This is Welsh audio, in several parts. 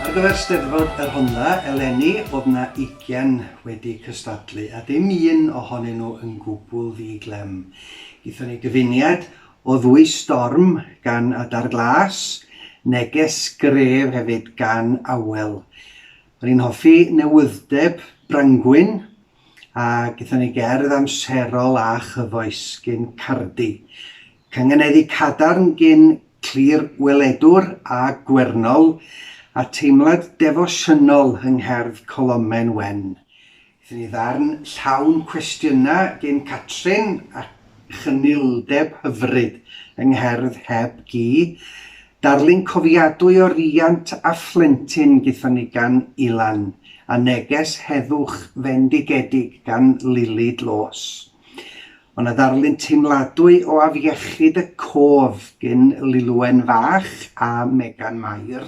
Ar gyfer Steddfod y Rhondda eleni oedd 'na ugain wedi cystadlu a dim un ohonyn nhw yn gwbl ddi-glem. Gaethon ni gyfuniad o ddwy storm gan Adar Glas, neges gref hefyd gan Awel. O'n i'n hoffi newydd'deb Brangwyn a gaethon ni gerdd amserol a chyfoes gin Cardi. Cynganeddi cadarn gin Clir Weledwr a Gwernol, a teimlad defosiynol yng ngherdd Colomen Wen. Gaethon ni ddarn llawn cwestiynau gin Catrin a chynildeb hyfryd yng ngherdd Heb Gi, Darlun cofiadwy o riant a phlentyn gaethon ni gan Ilan, a neges heddwch fendigedig gan Lili Dlos. O' 'na ddarlun teimladwy o afiechyd y cof gin Lilwen fach a Megan Mair,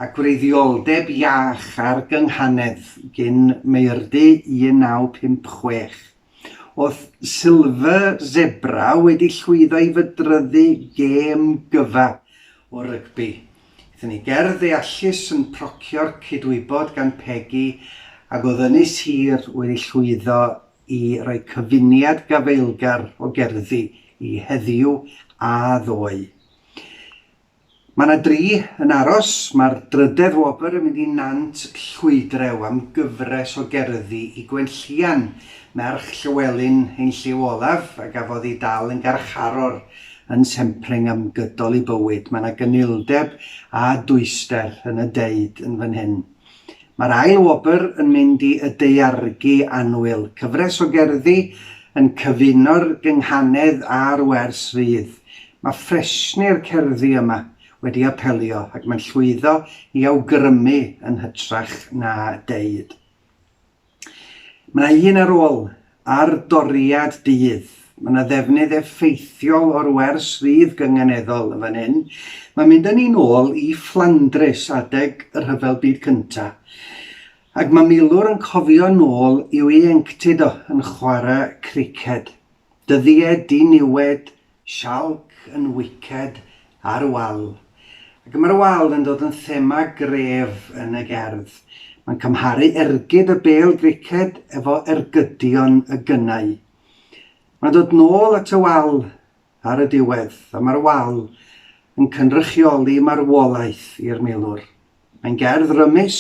a gwreiddioldeb iach ar gynghanedd gin Meirdy 1956. Oedd Silver Zebra wedi llwyddo i fydryddu gêm gyfa o rygbi. Aethon ni ger ddeallus yn procio'r cydwybod gan Pegi ac oedd Ynys Hir wedi llwyddo i roi cyfuniad gafaelgar o gerddi i heddiw a ddoe. Mae 'na dri yn aros. Mae'r drydedd wobr yn mynd i Nant Llwydrew am gyfres o gerddi i Gwenllian, merch Llywelyn ein Llyw Olaf, a gafodd ei dal yn garcharor yn Sempreng am gydol ei bywyd. Mae 'na gynildeb a dwyster yn y deud yn fan hyn. Mae'r ail wobr yn mynd i Y Daeargi Annwyl, cyfres o gerddi yn cyfuno'r gynghanedd a'r wers rydd. Mae ffresni'r cerddi yma wedi apelio ac mae'n llwyddo i awgrymu yn hytrach na deud. Mae yna un ar ôl, ar doriad dydd. Mae yna ddefnydd effeithiol o'r wers rydd gynganeddol yn fan hyn. Mae'n mynd â ni'n ôl i Fflandrys adeg y Rhyfel Byd Cyntaf. Ac mae milwr yn cofio nôl i'w ieuenctid o yn chwarae criced. Dyddiau diniwed Sialc yn wiced ar y wal. Ac mae'r wal yn dod yn thema gref yn y gerdd. Mae'n cymharu ergyd y bêl griced efo ergydion y gynnau. Mae'n dod nôl at y wal ar y diwedd, a mae'r wal yn cynrychioli marwolaeth i'r milwr. Mae'n gerdd rymus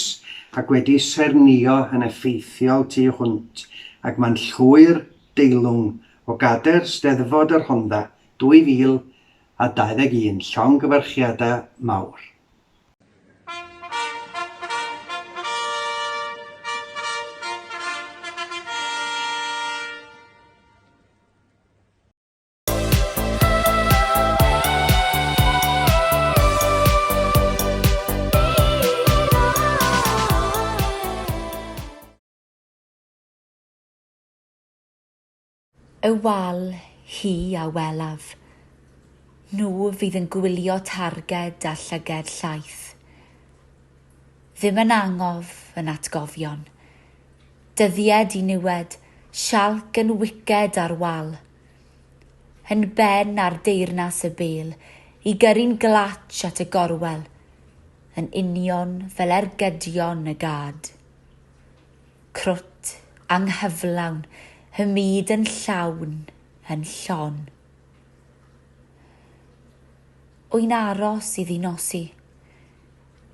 ac wedi saernïo yn effeithiol tu hwnt ag man llwyr deilwng o gader Steddfod y Rhondda 2021, llongyfarchiadau mawr. Y wal hi a welaf. Nhw fydd yn gwylio targed a llyged llaeth. Ddim yn angof yn atgofion. Dyddied i niwed, sialc yn wiced ar wal. Yn ben ar deyrnas y bêl, i gyrru'n glatsh at y gorwel, yn union fel ergydion y gad. Crwt, anghyflawn, y myd yn llawn, yn llon. Wy'n aros iddi nosi.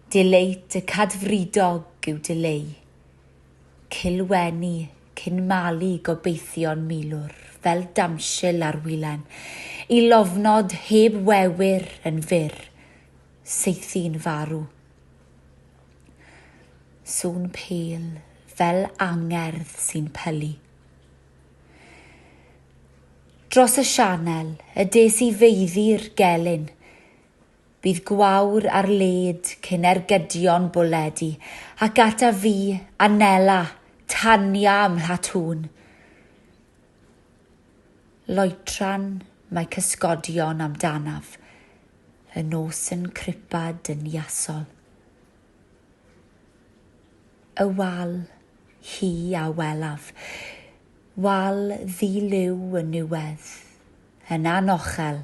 Dileit y cadfridog yw dileu. Cilwenu, cyn malu gobeithion milwr fel damsil ar wilen, i lofnod heb wewr yn fyr, saethu'n farw. Sŵn pêl fel angerdd sy'n pylu. Dros y sianel y des i feiddi'r gelyn, Bydd gwawr ar led cyn ergydion bwled i, ac ata fi, Anela, Tania ym Mhlatŵn. Loetran mae cysgodion amdanaf, y nos yn cripa dyniasol. Y wal, hi a welaf, wal ddi-liw yn niwedd, yn anochel,